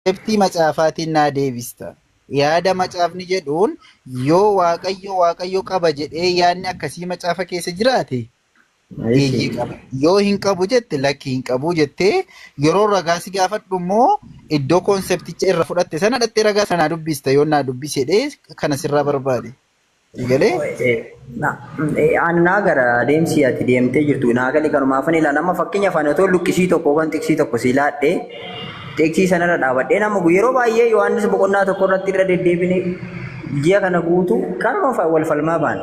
Deebtii macaafaatiin naa deebista. Yaada macaafni jedhuun yoo waaqayyo waaqayyo qaba jedhee yaadni akkasii macaafa keessa jiraate eeyyee qaba. Yoo hin qabu jette lakki hin qabu jettee yeroo ragaa si gaafadhu immoo iddoo koonsepticha irra fudhatte sana dhattee ragaa sana naa dubbista yoo naa dubbisi jedhee kana sirraa barbaade. Eegalee Annaa gara deemsi ati deemtee jirtu naa galee kanumaafan ilaala. Amma fakkeenya afaan otoo luqqisii tokko yookaan xiqsii tokko si laadhe xiqsii sanarra dhaabadhee nama gu- yeroo baay'ee Yohaannis boqonnaa tokko irratti irra deddeebine ji'a kana guutuu kanuma fa- wal falmaa baana.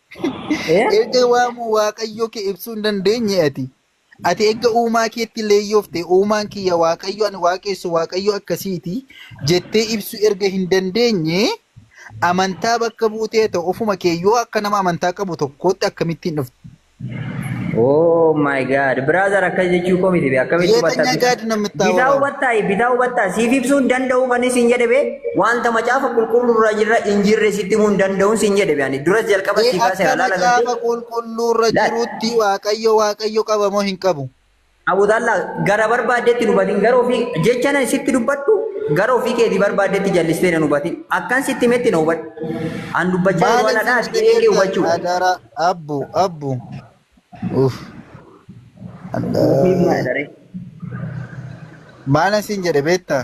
Eh? Erga waamuu Waaqayyoo kee ibsuu hin dandeenye ati. Ati erga uumaa keetti leeyyoofte uumaan kiyya Waaqayyo ani waaqessu Waaqayyo akkasiiti jettee ibsuu erga hin dandeenye amantaa bakka buutee ta'u ofuma kee yoo akka nama amantaa qabu tokkootti akkamittiin dhufte? Oh my god. Brother akkas jechuu koo miti bee akkamitti hubatta Yeetanya bitaa gaadi namni itti bitaa hawaraa. hubattaa bitaa hubattaa siif ibsuu hin danda'u kan isin jedhe bee wanta macaafa qulqulluu irra jirra hin jirre sitti himuu hin danda'u sin jedhe bee ani duras jalqaba Ee sii kaaseera akka laala galtee macaafa qulqulluurra laal jirutti waaqayyo waaqayyo qaba moo hin qabu? Abudalla gara barbaaddetti nu batin gara ofii jecha nan sitti dubbadhu gara ofii keetii barbaaddetti jallistee nan hubatin akkan sitti metti na hubadhu an dubbachaa jiru Maalin waladhaa sitti sagalee kee jettan hubachuu adara abbu abbu. Uff. Ufiif maa Adda. jedhare Maalin siin jedhe beektaa?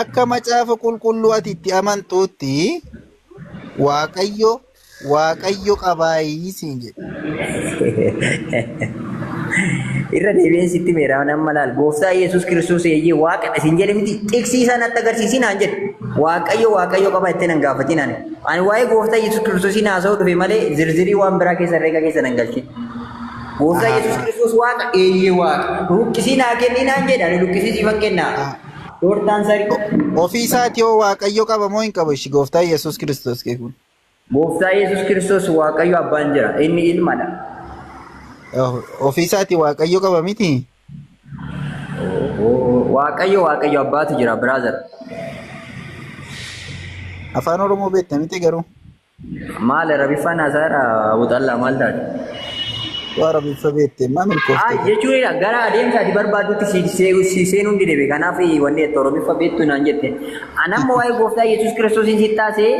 Akka macaafa qulqulluu ati itti amantuutti Waaqayyo Waaqayyo qabaayii siin jedhe. Irra deebi'een sitti meera amma laal gooftaa Yesuus Kiristoos eeyyee waaqadha siin jedhe miti xiqsiisaa natti agarsiisii naan jedhe waaqayyo waaqayyo qaba itti nan gaafatiin ani ani waa'ee gooftaa Yesuus Kiristoosii naasa'uu dhufe malee zirzirii waan biraa keessa herreega keessa nan galchin. Gooftaa Ahaa. Yesuus Kiristoos Waaqa? Eeyyee Waaqa. Luqqisii naa kennii naan jedhe ani luqqisii siifan kennaa. Doortaan sarii. Ofii isaati hoo Waaqayyo qaba moo hin qabu ishi gooftaa Yesuus Kiristoos kee kun? Gooftaa Yesuus Kiristoos Waaqayyo abbaan jira. Inni ilmadha. Ofii isaati Waaqayyo qaba miti? Waaqayyo Waaqayyo abbaatu jira brother. Afaan Oromoo beekta miti garuu? Maal rabiffaan haasaadha buxallaa maal taate? Waa rabiffa beekte maa Ay milkoofte kun. jechuudha gara adeemsa ati barbaaddutti si see- si seenuu hin didebe kanaaf wanni itti oromiffa beektu naan jette. Anamma waa'ee gooftaa Yesuus Kiristoosiin si taasee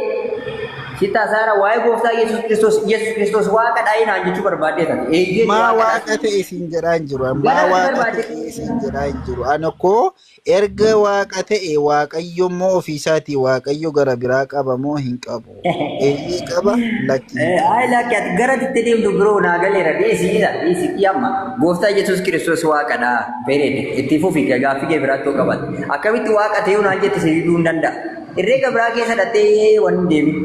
si taasaara waa'ee gooftaa Yesuus Kiristoos Yesuus Kiristoos waaqa dhaa'ee naan jechuu barbaadde taate. Eeyyeen Maa waaqa waaqa dhaa'ee. ta'e siin jedhaa hin jiru. Maa Gara ati waaqa barbaadde. ta'e siin jedhaa hin jiru. Ani koo Erga Waaqa ta'e, Waaqayyo immoo ofii isaatii Waaqayyo gara biraa qaba moo hin qabu? Eeyyee qaba, lakki hin qabu. Ayi lakki ati gara itti deemtu biroo naa galeera dhiisi isa dhiisi fi amma gooftaa Yesuus Kiristoos waaqadha period itti fufi gaaffii kee biraatti yoo qabatte akkamitti waaqa ta'uu naan jette si diduu hin danda'a herreega biraa keessa dhattee waan hin deemin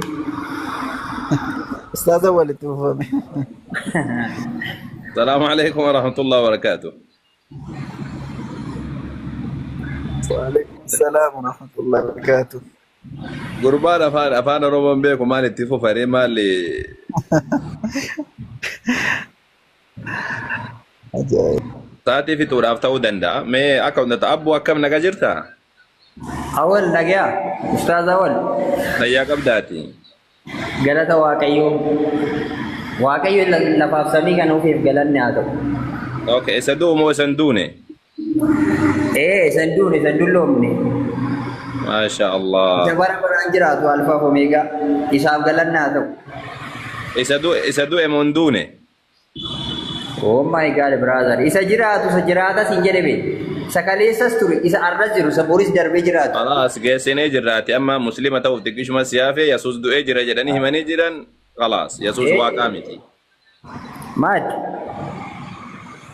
Ustaaza walitti fufame. Salaamu alaikum wa rahmatullahi wa barakaatu. Waalaikum salaam wa rahmatullahi wa barakaatuh. Gurbaan afaan afaan Oromoo hin beeku maal itti fufa ree maal Ajaa'ib. sa'aatii fixuudhaaf ta'uu danda'a. Mee akka hunda ta'a abbuu akkam naga jirta? Awal nagaya. Ustaz Awal. Fayyaa qabdaati. Galata Waaqayyoo. Waaqayyo la- lafaaf samii kana ofiif galanni haa ta'u. Okay, isa du'u moo isa hin duune? Ee isan duun isan dulloomne. Maasha Isa Allah. bara baraan jiraatu alfaaf omeegaa. Isaaf galanni haa ta'u. Isa du'e isa du'e moo hin duune? Oh my God brother isa jiraatu isa jiraatas hin jedhe bee isa kaleessas ture isa arras jiru isa boris darbee jiraatu. Kalaas geessinee jirraati amma muslima ta'uuf xiqqishuma siyaafe Yesuus du'ee jira jedhanii himanii jiran kalaas Yesuus Eh. waaqaa miti. Maad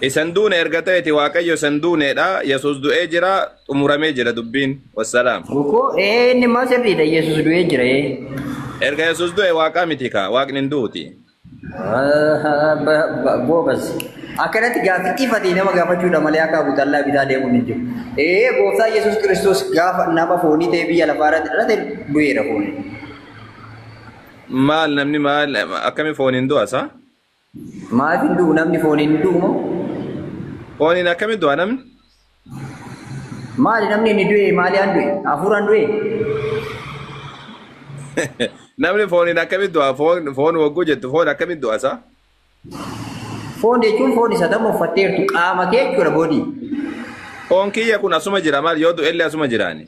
Isan duune erga ta'eeti waaqayyo isan duuneedha Yesuus du'ee jira xumuramee jira dubbiin wassalaam. gukoo ee inni immoo sirriidha Yesuus du'ee jira ee. Erga Yesuus du'e waaqaa miti kaa waaqni hin duuti. Goobas. Akkanatti gaaffii ifatee nama gaafachuudha malee akka Abu Xallaa bitaa deemuun hin jiru. Ee gooftaa Yesuus Kiristoos gaafa nama foonii ta'ee biyya lafaa irratti dhalate du'eera foonii. Maal namni maal akkami fooniin du'a isaa? Maaf hin du'u namni fooniin hin du'u moo? Fooniin akkami du'a namni? Maali namni inni du'e maaliidhaan du'e? Hafuuraan du'e? Namni fooniin akkamitti du'a? Foon foon wagguu jettu foon akkamitti du'a isaa? Foon jechuun foon isa tamma uffatteertu qaama kee jechuudha boodii. Foon kiyya kun asuma jira maal yoo du'ellee asuma jiraani.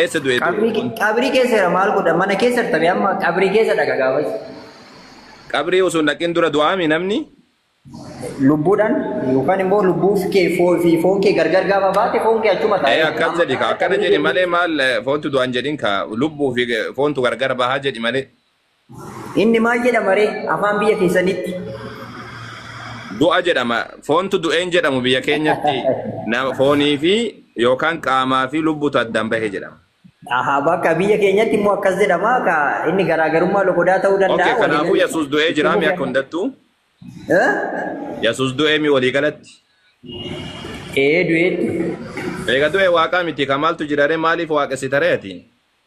Eessa du'e du'e Qabrii kun? qabrii keessa jira maal godha mana keessa tabe amma qabrii keessa dhaqa gaafas Qabrii osoo hin dhaqin dura du'aami namni? lubbuudhaan yookaan immoo lubbuuf kee foo- fi foon kee gargar gaafa baate foon kee achuma Ee taa'ee akkas jedhi ka akkana jedhi malee maal eh, foontu du'an jedhin ka lubbuu fi eh, foontu gargar bahaa jedhi malee. Inni maal jedhama ree afaan biyya keessanitti? Du'a jedhama. Foontu du'een jedhamu biyya keenyatti na- foonii fi yookaan qaamaa fi lubbutu addaan bahe jedhama. Aha, bakka biyya keenyatti immoo akkas jedhama. Ka inni garaagarummaa loqodaa ta'uu Okay, danda'a. kanaafuu waliigalatti Yesuus du'ee itti jiraami akka fufi. hundattuu. Eh? Yesuus du'ee mi waliigalatti. Ee du'eetti. Eega du'e waaqaa miti ka maaltu jira ree maaliif waaqessita ree ati?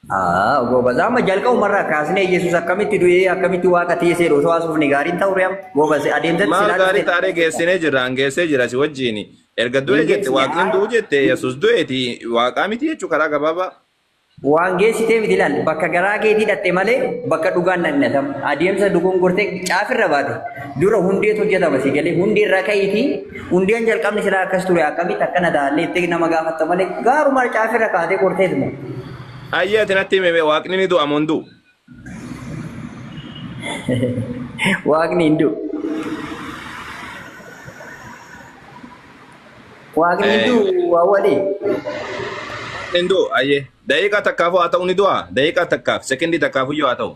Aa, goobazaa amma jalqabumarraa kaasnee Yesuus akkamitti du'ee akkamitti waaqa teessee osoo haasofne gaariin ta'u re'am goobazee adeemsatti Maal silaa gaarii taaree dubbisee geessinee jirra an geessee jira si wajjin. Erga du'e hin jette geessine waaqni hin du'u jette Yesuus du'eeti waaqaa miti jechuu karaa gabaabaa. waan geessitee miti ilaal bakka garaa keetii dhatte malee bakka dhugaan dhaqnatam adeemsa dogongortee caafirra baate dura hundeetu hojjetama si galee hundeerraa ka'iitii Hundeen jalqabni silaa akkas ture akkamitti akkana ta'allee itti nama gaafatta malee gaaruma harcaafirra kaatee kortees moo. Ayyee ati natti hime waaqni ni du'a moo hin du'u? Waaqni hin du'u. Waaqni hin du'u awwalii. Hin du'u ayyee. Daqiiqaa takkaafuu haa ta'u ni du'a? Daqiiqaa takkaaf sekendii takkaafuu yoo haa ta'u.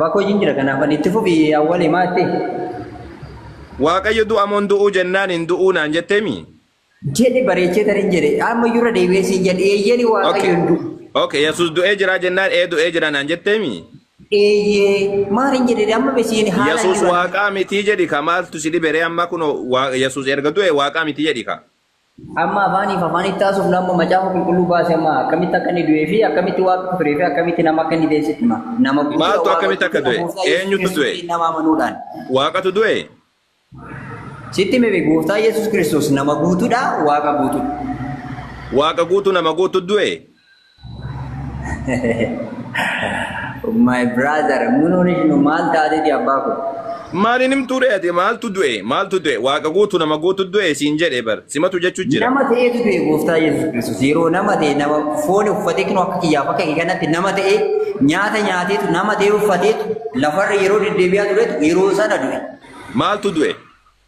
Bakoo jin jira kanaaf ani itti fufi awwali maatti. Waaqayyo du'a moon du'uu jennaan hin du'uu naan jetteemi? Jedhe bareechee tarin jedhe amma iyyuu irra deebi'ee siin jedhe eeyyeni waaqayyo hin du'u. Okay yesus du'ee jiraa jennaan ee du'ee jira naan jetteemi? Eeyyee maal hin jedhe amma me siin haala Yesus waaqaa mitii jedhi ka maaltu si dhibere amma kuno yesus erga du'e waaqaa miti jedhi ka. Amma afaaniif afaanitti taasisuuf nama macaafa qulqulluu baase amma akkamitti akka inni du'ee fi akkamitti waaqa akka turee fi akkamitti nama akka inni deessitti hima. Nama guddaa Maaltu waaqa akkamitti akka du'e? Muusaa Yesuus Eenyutu du'e? Kiristoosiin nama amanuudhaan. Waaqatu du'e? Sitti hime gooftaa Yesuus Kiristoos nama guutuudha waaqa guutuudha. Waaqa guutuu nama guutu du'e? My brother, munuun ishnu maal taatiti abbaa kun? Maal hin himtuu ree ati maaltu du'e maaltu du'e waaqa guutu nama guutu du'e siin jedhe bar simatu jechuu jira. Nama ta'eetu du'e gooftaa Yesuus Kiristoos yeroo nama ta'e nama foon uffatee kinoo akka kiyyaaf akka kee kanatti nama ta'e nyaata nyaateetu nama ta'e uffateetu lafarra yeroo deddeebi'aa turetu yeroo sana du'e. Maaltu du'e?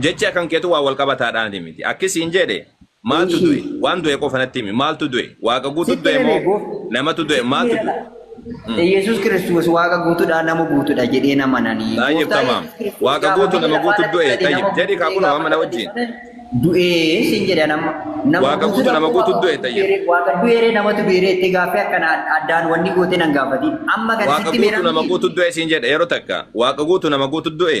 Jechi akan ketu waa wal qabata dhaan miti. Akki siin jeedhe maaltu du'e? Waan du'e qofa natti himi. Maaltu du'e? Waaqa guutu Sitti du'e moo himee namatu du'e? Maaltu du'e? Yesus Kiristoos waaqa guutuudha nama guutuudha jedhee nama nani. Tayyib tamaam. Waaqa guutu nama guutu du'e. Tayyib jedhi kaa kunoo amma na wajjin. Du'ee sin jedha nama nama Waaqa guutu nama guutu du'e tayyib. Waaqa du'eeree namatu du'eeree itti gaaffii akkana addaan wanni gootee nan gaafatiin. Amma kan Waaqa sitti guutu nama guutu du'e siin jedhe yeroo takka. Waaqa guutu nama guutu du'e.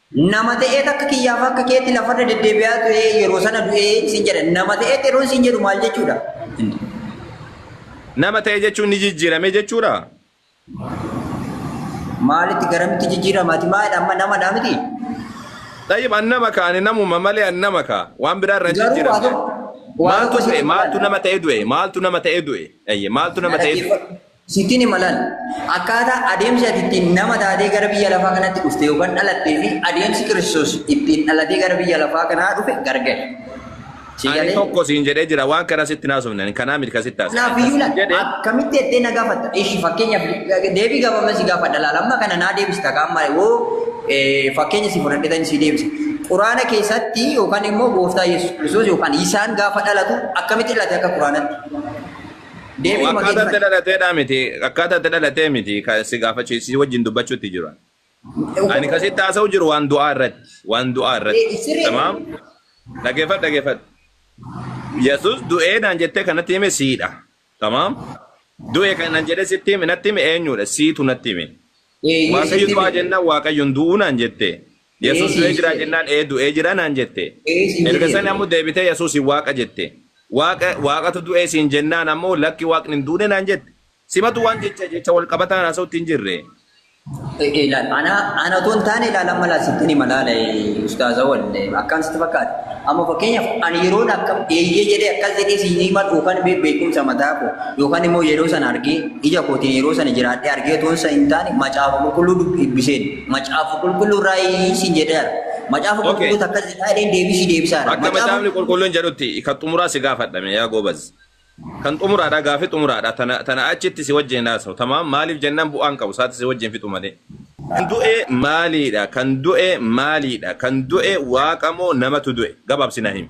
Nama ta'eet akka kiyyaa fi akka keetti lafarra deddeebi'aa ture yeroo sana du'ee isin jedha. Nama ta'eet yeroo isin jedhu maal jechuudha? Nama ta'e jechuun ni jijjiirame jechuudha. Maalitti garamitti jijjiiramaati? Maalidha amma namadha miti? Xayyib an nama ka ani namuma malee an nama ka waan biraa irra hin Garuu waa jijjiiramne. tokko waa Maaltu tokko du'e? sitti Maaltu ilaala. nama ta'e du'e? Maaltu nama ta'e du'e? Ayye maaltu nama ta'e du'e? Sittin hima laal. Akkaataa adeemsi ati ittiin nama taatee gara biyya lafaa kanatti dhufte yookaan dhalattee fi adeemsi Kiristoos ittiin dhalatee gara biyya lafaa kanaa dhufe gargari. Si Ani galee? tokko siin jedhee jira waan kana sitti naasofne ani kanaa miti kan sitti haasa'e. Kanaaf iyyuu laal. Jedhe Akkamitti jettee na gaafatta? Ishi fakkeenyaaf deebii gabaabaa si gaafadha laal. Amma kana naa deebista kaan malee hoo eh, fakkeenya si fudhadhetan si deebisa. Quraana keessatti yookaan immoo gooftaa Yesuus Kiristoos yookaan isaan gaafa dhalatu akkamitti dhalate akka Quraanatti? Deebiin Akkaataa itti mageeffadha. dhalateedhaa miti. Akkaataa itti dhalatee miti. Ka si gaafachuu si wajjin dubbachuutti jiru. Ani kan sitti haasa'u jiru waan du'aa irratti. Waan du'aa irratti. Eh, siree. Tamaam. Dhageeffadhu dhageeffadhu. Yesus du'ee naan jettee kanatti hime siidha. Tamaam. Du'e kan naan jedhee sitti hime natti hime eenyudha? Siitu natti hime. Eh, Waaqayyo Yesuusiin du'aa jennaan Waaqayyoon du'uu naan jettee. Yesus Ee siin du'ee jira jedhe. jennaan ee du'ee jira naan jette. Ee siin Erga jedhe sani ammoo du'ee. deebitee Yesuusin waaqa jette. Waaqa waaqatu du'ee siin jennaan ammoo lakki waaqni hin duune naan jette. Simatu waan jecha jecha wal qabataan haasa'utti hin jirre. Ee ee, ilaal ana ana otoo hin taane ilaal amma ilaal sittin hima ilaala ee, ustaaza wal ee, akkaan sitti fakkaate. Amma fakkeenyaaf ani yeroon akka eeyyee jedhee akkas jedhee siin hima yookaan be- beekumsa mataa koo yookaan immoo yeroo sana argee ija kootiin yeroo sana jiraadhee argee otoo isa hin taane macaafa qulqulluu dubbiseen Macaafa qulqulluu raayii siin jedheera. Macaafa Okay. qulqulluu takka jedhaa jedheen deebisii deebisaara. Akka Macaafa macaafni qulqulluun jedhutti kan xumuraa si gaafadhame yaa goobaz. Kan xumuraadha gaafi xumuraadha tana tana achitti si wajjin haasa'u. Tamaam maaliif jennaan bu'aan qabu isaatti si wajjin fixu malee. Kan du'e maaliidha? Kan du'e maaliidha? Kan du'e waaqa moo namatu du'e? Gabaabsina himi.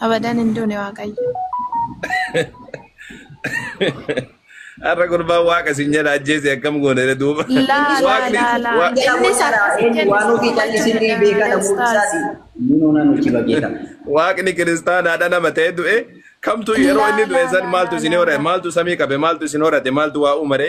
Abadan hin duune waaqayyo. Har'a gurbaan waaqa isin jedha ajjeese akkam goone duuba. Laa laa Waaqni laa laa. wa- Jala Innis booda akkas hin eenyu jennu waan ofii sitti callisii ni beeka jechuudha. dhabuu Ustaaz. isaati. Nuunoo nan hojii bageeta. waaqni kiristaanaadha nama ta'e du'e kamtu yeroo inni du'e san maaltu isin horate maaltu samii qabe maaltu isin horate maaltu waa uumare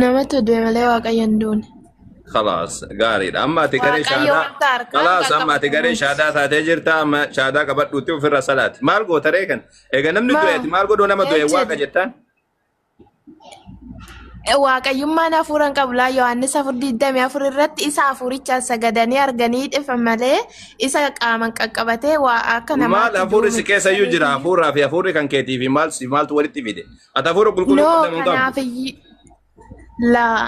Nama to deeme malee waaqayyo hin duune. Khalaas gaariidha. Amma ati garee Waaqayyo shaadaa. wanta harkaan Khalaas kan amma ati qabatu garee miti. shaadaa taatee jirta. Amma shaadaa qabadhuutti ofirra salaati. Maal goota ree kan? Egaa namni du'e ati maal godhuu nama du'e waaqa jettaan? Waaqayyummaan hafuura hin qabu laa Yohaannis afur digdamii afur irratti isa hafuurichaan sagadanii arganii dhifa malee isa qaaman qaqqabatee waa akka Maal namaatti hafuurri si duune. keessa iyyuu jira hafuuraa fi hafuurri kan keetii fi maal si maaltu walitti fide? Ati hafuura qulqulluu No, qabda moo hin qabdu? kanaaf iyyi. Laa.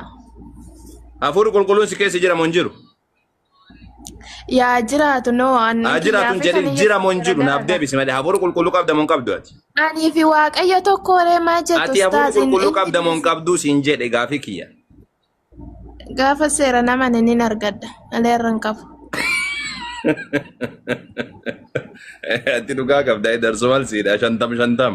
Hafuurri qulqulluun si keessa jira moo hin jiru? Yaa jiraatu no anni Haa jiraatu hin jedhin jira moo hin jiru naaf deebisi malee hafuura qulqulluu qabda moo hin qabdu ati? Anii fi waaqayyo tokko waree maa jettu Ati hafuura ustaaz, hin- qulqulluu hin qabda moo hin jedhu. qabdu siin jedhe gaafii kiyya. Gaafa seera nama nin argadha. Malee irra hin qabu. Ati dhugaa qabda darsoo maal siidha shantam shantam.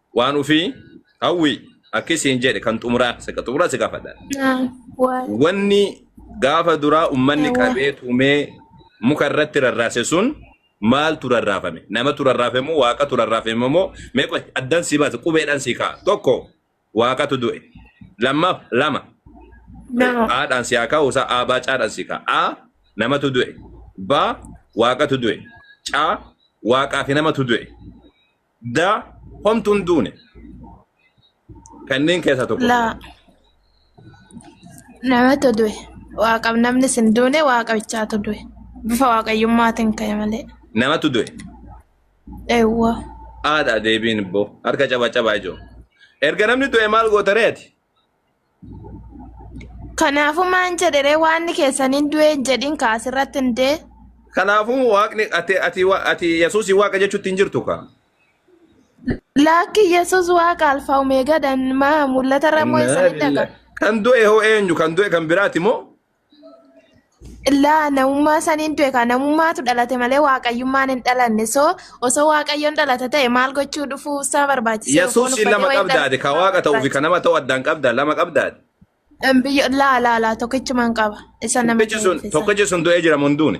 waan ofii hawwi akki siin jedhe kan xumuraa saka xumuraa si gaafadha. Naam. Waal. Wanni gaafa duraa ummanni Ewa. qabee tumee muka irratti rarraase sun maaltu rarraafame? Namatu rarraafe moo waaqatu rarraafe moo mee qoy addan si baase qubeedhaan si ka'a. Tokko waaqatu du'e. Lammaaf lama Nama. haadhaan si haa kaa'u isaa aabaa caadhaan si ka'a. A namatu du'e. B waaqatu du'e. C waaqaa fi namatu du'e. Da homtu hin duune. Kanneen keessaa tokko. Laa. Namatu du'e. Waaqaf namni sin duune waaqa bichaatu du'e. Bifa waaqayyummaatiin ka'e malee. Namatu du'e. Eewwa. Haadha deebiin ibboo. Harka caba caba ijoo. Erga namni du'e maal goota reeti? Kanaafuu maan jedhe ree waanni keessan hin du'e hin jedhin kaa asirratti hin dee. Kanaafuu waaqni ati ati wa- ati Yesuus waaqa jechuutti hin jirtu kaa. Laakki Yesuus waaqa alfaa omeegaadhaan maa mul'ata irra moo Innaa isanitti lillaah. dhagaa. Kan du'e hoo eenyu? Kan du'e kan biraati moo? Illaa namummaa saniin du'e kaa namummaatu dhalate malee waaqayyummaan hin dhalanne soo osoo waaqayyoon dhalate ta'e maal gochuu dhufuu isaa barbaachise Yesuus lama qabdaade ka waaqa ta'uu fi ka nama ta'u addaan qabda lama qabdaade. Biyyo laa laa laa tokkichumaan qaba isa nama Tokkichi sun ta'eef isa. tokkichi sun du'ee jira munduuni.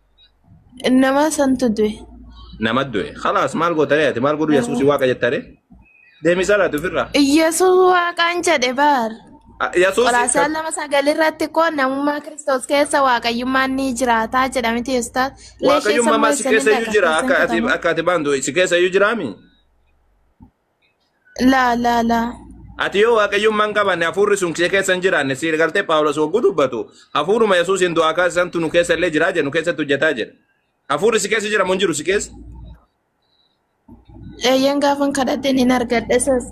Nama santu du'e. Nama du'e. Khalaas maal goota ree ati maal godhu Yesuusi waaqa jetta ree? Deemi salaati ofirraa. Yesuus waaqaan jedhe baar. Ah, Yesuusi Qolaasaa lama sagal irratti koo namummaa Kiristoos keessa waaqayyummaan ni jiraataa jedhamiti Yesuus. waaqayyummaa maal si keessa iyyuu jira akka ati akka ati baantu si keessa iyyuu jiraami? Laa laa laa. Ati yoo waaqayyummaa hin qabanne hafuurri sun si keessa hin jiraanne si galtee Phaawulos hogguu dubbatu hafuuruma Yesuusiin du'aa kaasisantu nu keessa illee jiraa jedhu keessatti hojjetaa jedha. Hafuurri si keessa jiramu hin jiru si keessa. Eeyyeen gaafan kadhadheen hin argadhe isas.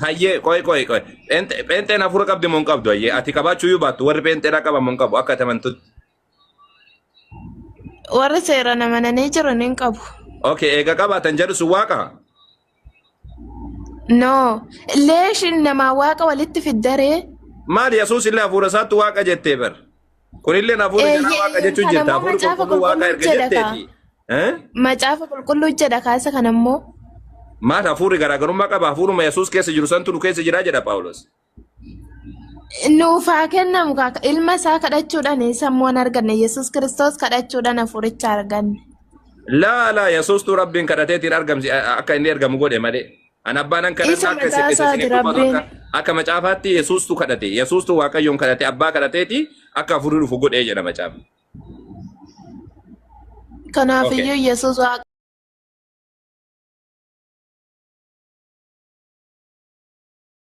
Hayyee qoy qoy qoy Pheenxe- pheenxeen hafuura qabdi moo hin qabdu hayyee ati qabaachuu iyyuu baattu warri pheenxeedhaa qaban moo hin qabu akka ati amantutti. Warri seeraan amananii jiran hin qabu. Okay, eega qabaatan jedhu sun waaqa. No. Leeshin namaa waaqa walitti fiddaree. Maal Yesuus illee hafuura isaatti waaqa jettee bar. Kunillee hafuura Eh, jalaa waaqa ye- jechuun kan jirta. ammoo Hafuurri macaafa qulqulluu waaqa erga qulqulluu jedha jetteeti. Eh? Macaafa qulqulluu jedha kaasa kan ammoo. Maal hafuurri garaagarummaa qaba? Hafuuruma Yesuus keessa jiru santu nu keessa jira jedha Phaawulos. Nuuf haa kennamu kaa ilma isaa kadhachuudhaan sammuu hin arganne Yesuus Kiristoos kadhachuudhaan hafuuricha arganne. Laa laa Yesuustuu Rabbiin kadhateetiin argamsi akka inni ergamu godhe malee. An abbaan an kadhadha Isa akka isin mataa isa isaati isiniif dubbatu akka Rabbiin. akka macaafaatti Yesuustuu kadhate. Yesuustuu Waaqayyoon kadhate abbaa kadhateeti akka hafuurri dhufu godhee jedha macaafa. Okay. Kanaafiyyuu Yesuus Waaqa